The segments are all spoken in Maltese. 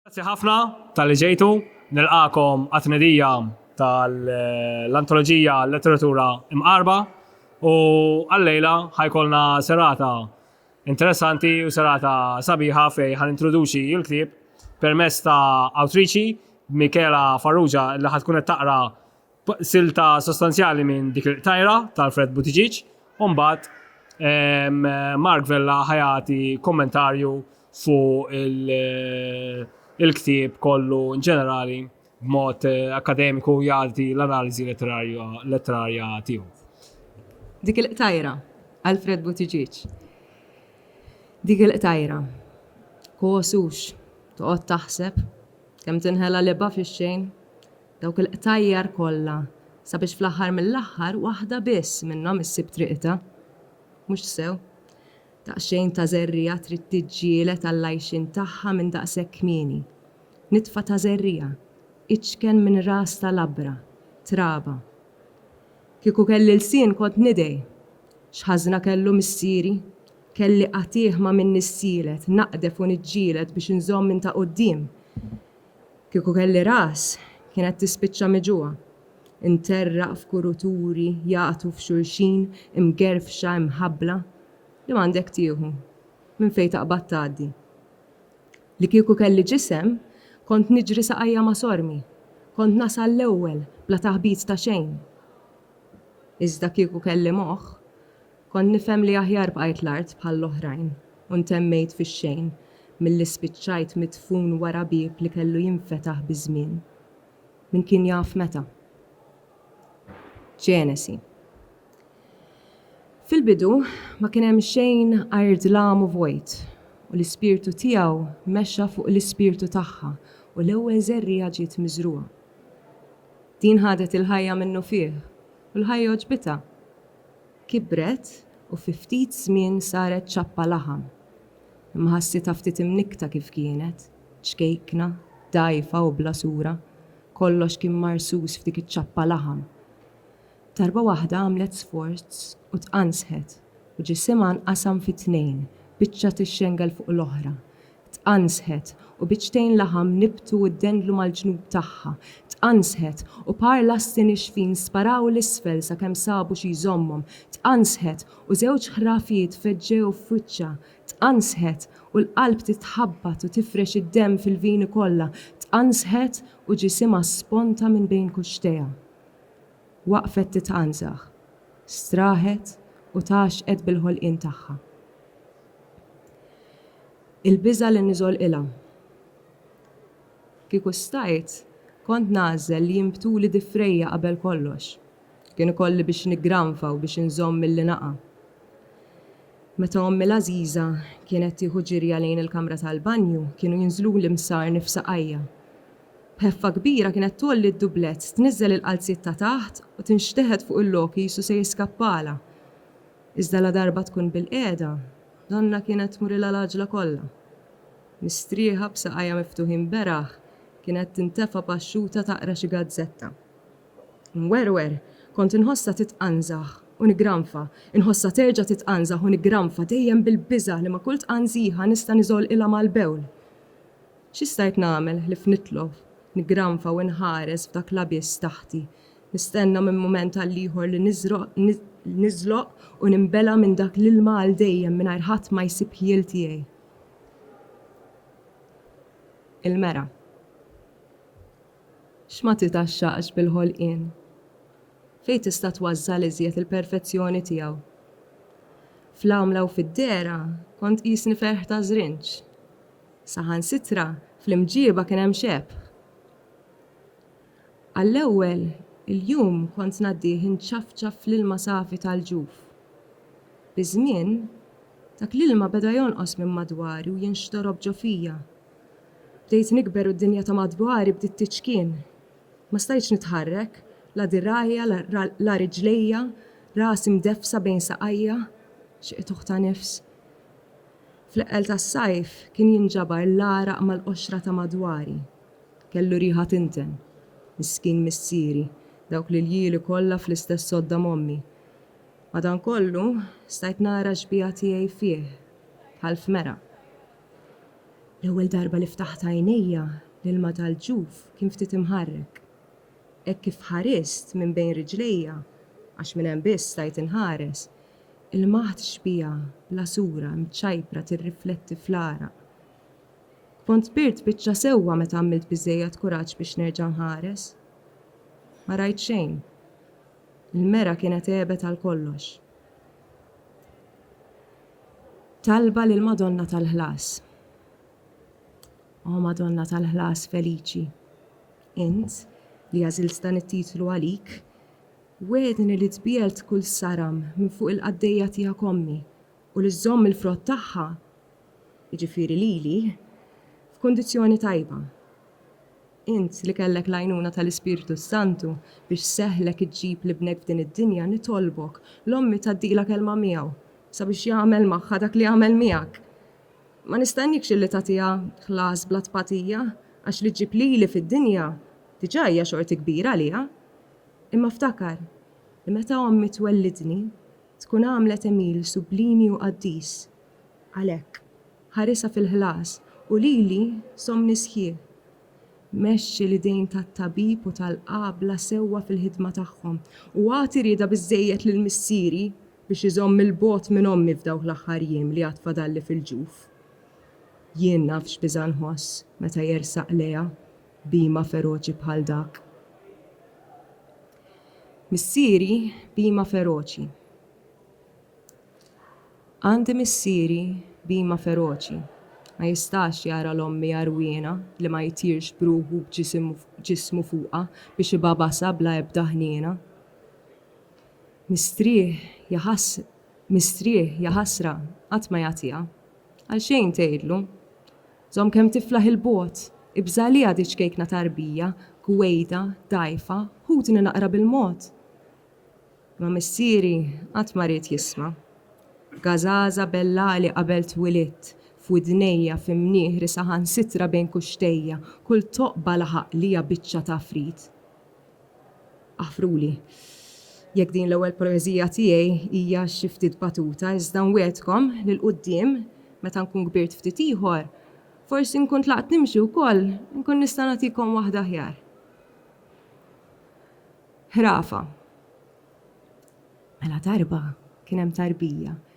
Grazzi ħafna tal-li ġejtu, nilqakom għat-tnedija tal-antoloġija Letteratura Imqarba u għallejla ħajkolna serata interessanti u serata sabiħa fej ħan introduċi il-klib permess ta' awtriċi Michela Farrugia li ħatkun qed taqra silta sostanzjali minn dik il-qtajra ta' Alfred Buttigieg u mbagħad Mark Vella ħajati kommentarju fuq il-ktieb kollu ġenerali b'mod eh, akademiku jgħati l-analiżi letterarja tiegħu. Dik il-qtajra, Alfred Buttigieg. Dik il-qtajra, kosux, toqgħod taħseb, kemm tinħela liba fix-xejn, Dawk il-qtajjar kollha, sabiex fl-aħħar mill-aħħar waħda biss minnhom issib triqitha. Mhux sew. Daqsxejn ta' żerriegħa trid tiġġieled għall-għajxien tagħha minn daqshekk kmieni. Nitfa ta' żerriegħa, iċken minn ras ta' labra, traba. Kieku kelli lsien kont nidgħi. X'ħażna kellu missieri? Kelli qatiegħ ma' min nissielet, naqdef u niġġieled biex inżomm minn ta' quddiem. Kieku kelli ras, kien qed tispiċċa miġugħa. Interraq f'kuruturi jagħtu f'xulxin imgerfxa imħabbla li m'għandek tieħu, minn fejn taqbad tgħaddi. Li kieku kelli ġisem, kont niġri saqajja ma' sormi, kont nasal l-ewwel bla taħbit ta' xejn. Iżda kieku kelli moħħ. Kont nifhem li aħjar bqajt l-art bħall-oħrajn u ntemmejt fix-xejn milli spiċċajt midfun wara bieb li kellu jinfetaħ biż-żmien. Min kien jaf meta? Ġenesi. Fil-bidu, ma kien hemm xejn għajr dlam u vojt, u l-Ispirtu tiegħu mexa fuq l-ispirtu tagħha u l-ewwel żerriegħa ġiet miżrugħa. Din ħadet il-ħajja minnufih u l-ħajja għoġbitha. Kibret u fi ftit żmien saret ċappa laħam. Imma ħassitha ftit imnikkta kif kienet, ċkejkna, dgħajfa u bla sura, kollox kien marsus f'dik iċ-ċappa laħam. Darba waħda għamlet sforz u tqanżħet u ġisimha nqasam fi tnejn, biċċa tixxengel fuq l-oħra, Tqanżħet, u biċċtejn laħam nibtu u ddendlu mal-ġnub tagħha. Tqanżħet, u par lasti nixfin sparaw 'l isfel sakemm sabu xi jżommhom. Tqanżħet, u żewġ ħrafiet feġġew f'wiċċha. Tqanżħet, u l-qalb titħabbat u tifrex id-demm fil-vini kollha. Tqanżħet, u ġisimha sponta minn bejn kuxxtejha. Waqfet titqanżaħ, straħet u tgħaxxqet bil-ħolqien tagħha. Il-biża' li niżolqilha. Kieku stajt, kont nagħżel li jinbtuli difrejja qabel kollox. Kien ikolli biex niggranfa u biex inżomm milli naqa'. Meta ommi l-għażiża kienet tieħu ġirja lejn il-kamra tal-banju, kienu jinżluli msarni f'saqajja. B'ħeffa kbira kienet tgħolli d-dublett, tniżżel il-qalziet ta' taħt u tinxteħet fuq il-lok qisu se jiskappalha. Iżda ladarba tkun bilqiegħda, donnha kienet tmurilha l-għaġla kollha. Mistrieħa, b'saqajha miftuħin beraħ, kienet tintefa' paxxuta taqra xi gazzetta. Inwerwer, kont inħossha titqanżaħ u niggranfa, inħossha terġa' titqanżaħ u niggranfa, dejjem bil-biża' li ma' kull tqanżiħa nista' niżolqilha mal-bewl. Xi stajt nagħmel ħlief nitlof, niggranfa u inħares f'dak l-abiss taħti, nistenna minn mument għal ieħor li niżloq u ninbela' minn dak l-ilma għal dejjem mingħajr ħadd ma jsib ħjiel tiegħi? Il-mera. X'ma titgħaxxaqx bil-ħolqien? Fejn tista' tważżal iżjed il-perfezzjoni tiegħu? Fl-għamla u fid-dehra kont qisni ferħ ta' żrinġ. Saħansitra fl-imġieba kien hemm xebh. Għall-ewwel il-jum kont ngħaddih inċafċaf fl-ilma safi tal-ġuf. Biż-żmien, dak l-ilma beda jonqos minn madwari u jinxtorob ġo fija. Bdejt nikber u d-dinja ta' madwari bdiet tiċkien. Ma stajtx nitħarrek, la dirgħajja, la riġlejja, rasi mdeffsa bejn saqajja. Xi qitugħ ta' nifs! Fl-eqqel tas-sajf kien jinġabar l-għaraq mal-qoxra ta' madwari. Kellu riħa tinten. Miskin missieri, dawk l-iljieli kollha fl-istess sodda m'ommi. Madankollu, stajt nara x-xbieha tiegħi fih, bħal f'mera. L-ewwel darba li ftaħt għajnejja, l-ilma tal-ġuf kien ftit imħarrek. Hekk kif ħarist minn bejn riġlejja, għax minn hemm biss stajt inħares, Il-maħt xbieha, bla sura, imċajpra, tirrifletti fl-għaraq. Kont kbirt biċċa sewwa meta għamilt biżżejjed kuraġġ biex nerġa' nħares. Ma rajt xejn. Il-mera kienet għebet għal kollox. Talba lill-Madonna tal-Ħlas O Madonna tal-Ħlas feliċi, int li għażilt dan it-titlu għalik, Wegħedni li tbiegħed kull saram minn fuq il-qaddejja tiegħek ommi, u li żżomm il-frott tagħha, jiġifieri lili, f'kundizzjoni tajba. Int li kellek l-għajnuna tal-Ispirtu s-Santu biex seħħlek iġġib l-ibnek f'din id-dinja nitolbok, l-ommi tgħaddilha kelma miegħu, sabiex jagħmel magħha dak li għamel miegħek. Ma nistenniekx illi tagħtiha ħlas bla tpatija, għax li ġġib lili fid-dinja diġà hija xorti kbira għaliha. Imma ftakar li meta ommi twellidni, tkun għamlet Emil sublimi u qaddis. Għalhekk, ħarisha fil-ħlas u lili somni sħiħ. Mexxi l-idejn tat-tabib u tal-qabla sewwa fil-ħidma tagħhom u agħti rieda biżżejjed lil missieri biex iżomm 'il bogħod minn ommi f'dawk l-aħħar jiem li għad fadalli fil-ġuf. Jien naf x'biża' nħoss meta jersaq lejha b'hima feroċi bħal dak. Missieri b'hima feroċi. Għandi missieri b'hima feroċi. Ma jistax jara l-ommi għarwiena li ma jtirx b'ruħu u b'ġismu fuqha biex ibagħbasha bla ebda ħniena. Mistrieħ, ja mistrieħ, ja ħasra, qatt ma jagħtiha. Għalxejn tgħidlu. Żomm kemm tiflaħ 'il bogħod, ibża' għaliha di ċkejkna ta' rbija, gwejda, dgħajfa, ħudni naqra bil-mod! Imma missieri qatt ma ried jisma'. Gażaża bellagħli qabel twilidt, f'widnejja, fi mnieħri, saħansitra bejn kuxxtejja, kull toqba laħaq lija biċċa t'għafrit. Aħfruli jekk din l-ewwel poeżija tiegħi hija xi ftit batuta iżda nwegħedkom li 'l quddiem meta nkun kbirt ftit ieħor, forsi nkun tlaqt nimxi wkoll, inkun nista' nagħtikom waħda aħjar. Ħrafa Mela darba kien hemm tarbija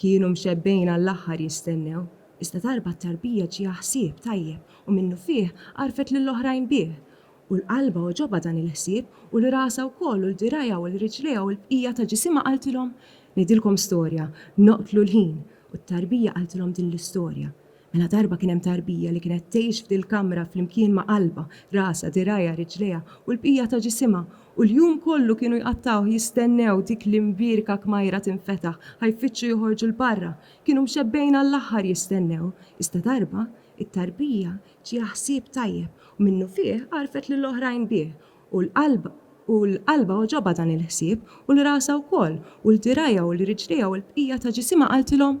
Kienu mxebbgħin għall-aħħar jistennew, iżda darba t-tarbija ġieha ħsieb tajjeb u minnufih għarrfet lil oħrajn bih. U l-qalbha għoġobha dan il-ħsieb u l-rasha wkoll u l-dirgħajha u l-riġlejha u l-bqija ta' ġisimha qaltilhom, Ngħidilkom storja, noqtlu l-ħin! U t-tarbija qaltilhom din l-istorja. Mela darba kien hemm tarbija li kienet tgħix f'dil-kamra flimkien ma' qalbha, rasha, dirgħajha, riġlejha, u l-bqija ta' ġisimha, u l-jum kollu kienu jqattgħuh jistennew dik l-imbierka kmajra tinfetaħ, ħa jfittxu joħorġu 'l barra. Kienu mxebbgħin għall-aħħar jistennew. Iżda darba, it-tarbija ġieha ħsieb tajjeb, u minnufih għarrfet lill-oħrajn bih, u l-qalbha u l-qalbha għoġobha dan il-ħsieb, u l-rasha wkoll, u l-dirgħajha u l-riġlejha u l-bqija ta' ġisimha qaltilhom,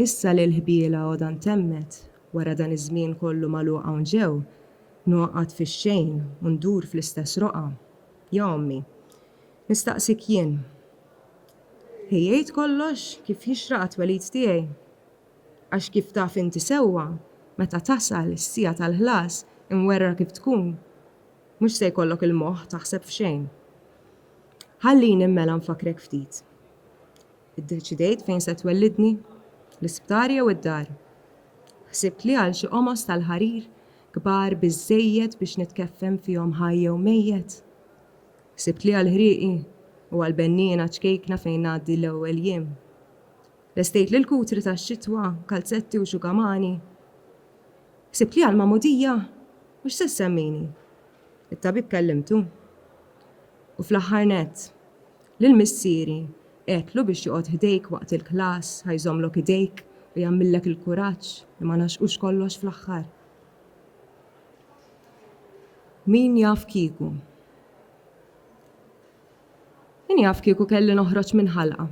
Issa li l-ħbiela għodha ntemmet, wara dan iż-żmien kollu magħluq hawn ġew, ngħoqgħod fix-xejn u ndur fl-istess roqgħa. Ja ommi, nistaqsik jien, ħejjejt kollox kif jixraq għat-twelid tiegħi? Għax kif taf inti sewwa, meta tasal is-siegħa tal-ħlas, imwerwra kif tkun, mhux se jkollok il-moħħ taħseb f'xejn. Ħallini mela nfakkrek ftit. Iddeċidejt fejn se twellidni? L-isptar jew id-dar? Ħsibt li għal xi qomos tal-ħarir, kbar biżżejjed biex nitkeffem fihom ħaj jew mejjet? Ħsibt li għal ħrieqi u għal benniena ċkejkna fejn ngħaddi l-ewwel jiem? Lestejt lil kutri tax-xitwa, kalzetti u xugamani? Ħsibt li għall-magħmudija? U x'se ssemmini? It-tabib kellimtu? U fl-aħħar nett, Lil missieri, għedtlu biex joqgħod ħdejk waqt il-klass, ħa jżommlok idejk u jagħmillek il-kuraġġ li ma ngħaxqux kollox fl-aħħar. Min jaf kieku. Min jaf kieku kelli noħroġ minn ħalqa.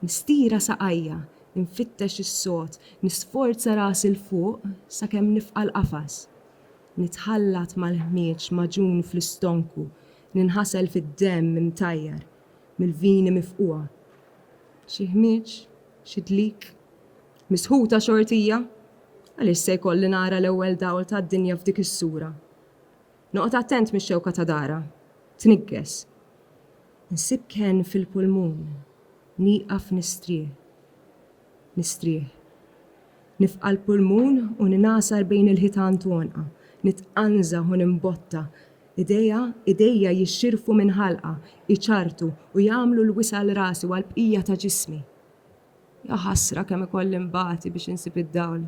Nistira saqajja, infittex is-sod, nisforza rasi 'l fuq sakemm nifqa' l-qafas. Nitħallat mal-ħmieġ magħġun fl-istonku, Ninħasel fid-demm imtajjar mill-vini mifqugħa. Xi ħmieġ, xi dlik, misħuta xortija, għaliex se jkolli nara l-ewwel dawl tad-dinja f'dik is-sura. Noqgħod attent mix-xewka ta' dara, tniggeż. Insib kenn fil-pulmun, nieqaf nistrieħ. Nistrieħ. Nifqa' l-pulmun u ningħasar bejn il-ħitan t'għonqha. Nitqanżaħ u nimbotta. Idejha, idejja jixxirfu minn ħalqha, iċarrtu u jagħmlu l-wisa' għal rasi u għall-bqija ta' ġismi. Ja ħasra kemm ikolli nbati biex insib id-dawl.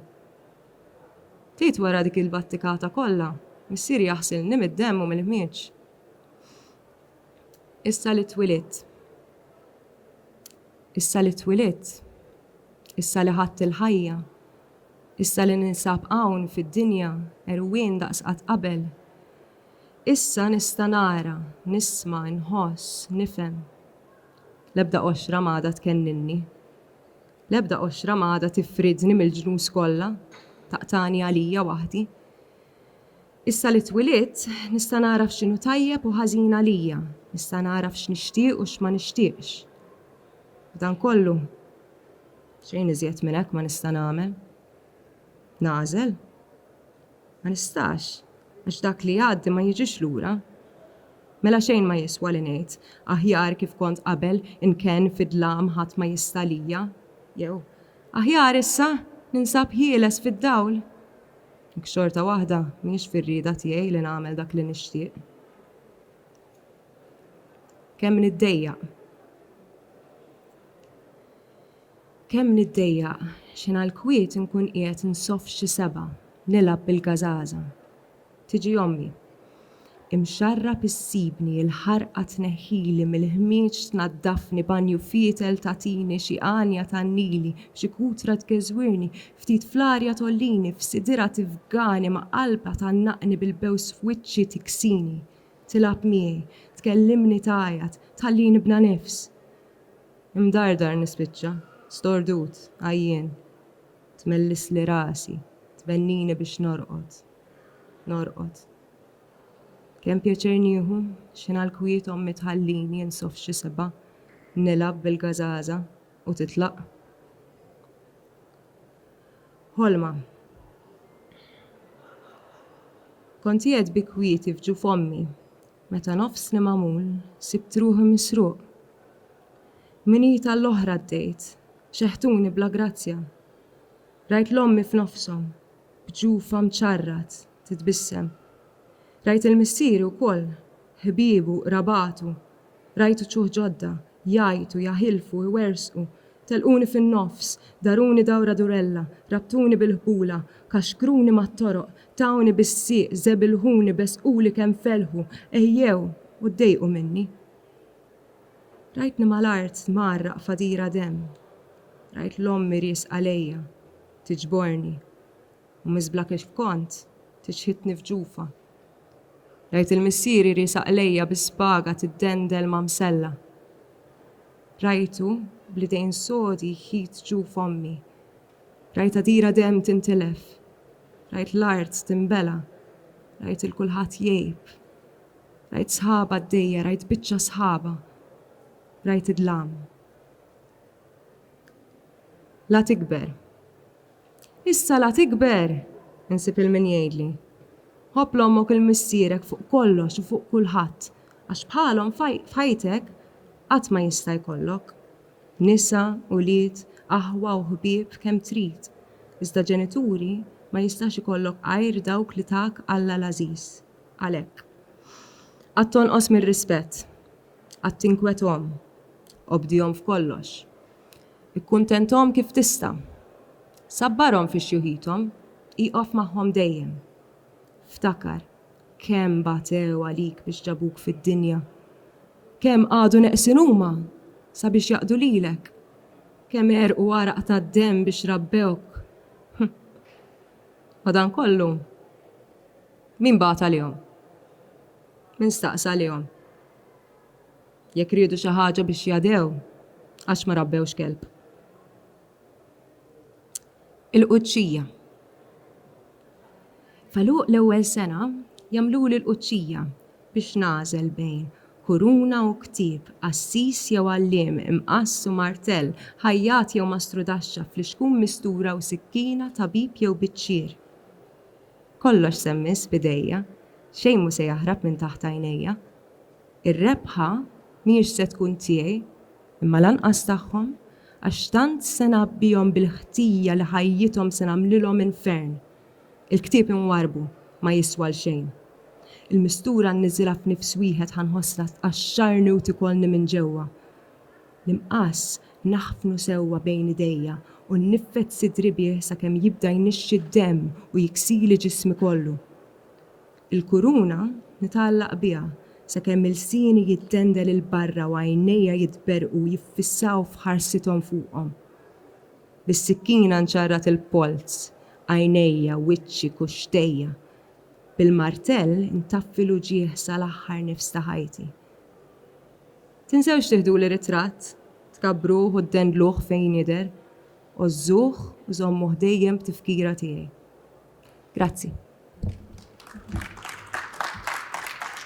Ftit wara dik il-battikata kollha, missieri jaħsilni mid-demm u mill-ħmieġ. Issa li twilidt. Issa li twilidt, issa li ħadt il-ħajja, issa li ninsab hawn fid-dinja għerwien daqs qatt qabel, issa nista' nara, nisma', inħoss, nifhem. L-ebda qoxra m'għadha tkenninni. L-ebda qoxra m'għadha tifridni mill-ġnus kollha, taqtagħni għalija waħdi. Issa li twilidt, nista' nagħraf x'inhu tajjeb u ħażin għalija, nista' nagħraf x'nixtieq u x'ma nixtieqx. F'dan kollu, xejn iżjed minn hekk ma nista' nagħmel. Nagħżel? Ma nistax, għax dak li jgħaddi ma jiġix lura. Mela xejn ma jiswa li ngħid, Aħjar kif kont qabel, inkenn fid-dlam, ħadd ma jista' għalija, jew, Aħjar issa, ninsab ħieles fid-dawl. Jekk xorta waħda m'iniex fir-rieda tiegħi li nagħmel dak li nixtieq. Kemm niddejjaq. Kemm niddejjaq, x'ħin għall-kwiet inkun qiegħed nsoff xi sebgħa, nilgħab bil-gażaża. Tiġi ommi. Imxarrab issibni l-ħarqa tneħħili mill-ħmieġ tnaddafni banju fietel tagħtini xi għanja tgħannili xi kutra tgeżwirni ftit fl-arja tgħollini f'sidirha tifgani ma' qalbha tgħannaqni bil-bews f'wiċċi tiksini tilgħab miegħi tkellimni tgħajjat tħallini bla nifs imdardar nispiċċa stordut għajjien Tmellisli rasi, tbennini biex norqod, norqod. Kemm pjaċir nieħu, x'ingħal kwiet ommi tħallini insoff xi seba', nilgħab bil-gażaża u titlaq. Ħolma. Kont qiegħed bi kwieti f'ġuf ommi, meta nofsni magħmul sibt ruħi misruq. Minita l-oħra għaddejt, xeħtuni bla grazzja. Rajt l-ommi f'nofshom, b'ġufa mċarrat, titbissem. Rajt il-missieri wkoll, ħbiebu, qrabatu, rajt uċuħ ġodda, jgħajtu, jaħilfu, iwerżqu, telquni fin-nofs, daruni dawra durella, rabtuni bil-ħbula, kaxkruni mat-toroq, tawni bis-sieq, żebilħuni, besquli kemm felħu, għejjew u ddejqu minni. Rajtni mal-art tmarraq f'għadira demm, rajt 'l ommi riesqa lejja tiġborni u miżbla kif kont tiċħidni f'ġufha. Rajt il-missieri riesaq lejja bi spaga tiddendel ma' msella. Rajtu bl-idejn sodi jħit ġuf ommi. Rajt għadira demm tintilef. Rajt l-art tinbela. Rajt 'il kulħadd jgħib. Rajt sħaba għaddejja, rajt biċċa sħaba, rajt id-dlam. La tikber. Issa la tikber! Insib il-min jgħidli. Ħobb l-ommok il-missierek fuq kollox u fuq kulħadd, għax bħalhom f'ħajtek qatt ma jista' jkollok. Nisa, ulied, aħwa u ħbieb kemm trid, iżda ġenituri ma jistax ikollok għajr dawk li tak Alla l-għażiż. Għalhekk, qatt tonqos mir-rispett, qatt tinkwethom, obdihom f'kollox, ikkuntenthom kif tista', sabbarhom fi xjuħithom, ieqof magħhom dejjem. Ftakar kemm batew għalik biex ġabuk fid-dinja, kemm qagħdu neqsin huma sabiex jaqdu lilek, kemm għerqu għaraq tad-demm biex rabbewk. Madankollu. Min bagħat għalihom? Min staqsa għalihom? Jekk riedu xi ħaġa biex jadhew, għax ma rabbewx kelb? Il-Qudxija F'għeluq l-ewwel sena jagħmluli l-Qudxija biex nagħżel bejn kuruna u ktieb, qassis jew għalliem, imqass u martell, ħajjat jew mastrudaxxa, flixkun mistura u sikkina, tabib jew biċċier. Kollox se mmiss f'idejja, xejn mhu se jaħrab minn taħt għajnejja. Ir-rebħa mhijiex se tkun tiegħi, imma lanqas tagħhom, għax tant se ngħabbihom bil-ħtija li ħajjithom se nagħmlilhom infern. Il-ktieb inwarrbu ma jiswa 'l xejn. Il-mistura nniżilha f'nifs wieħed ħa nħossha tqaxxarni u tikolni minn ġewwa. L-imqass naħfnu sewwa bejn idejja u nniffed sidri bih sakemm jibda jnixxi d-demm u jiksili ġismi kollu. Il-kuruna nitgħallaq biha sakemm ilsieni jittendel 'il barra u għajnejja jitberrqu u jiffissaw f'ħarsithom fuqhom. Bis-sikkina nċarrat il-polz, għajnejja, wiċċi, kuxxtejja. Bil-martell intaffi l-uġigħ sal-aħħar nifs ta' ħajti. Tinsewx tiħduli ritratt, tkabbruh u ddendluh fejn jidher. Għożżuh u żommuh dejjem b'tifkira tiegħi. Grazzi.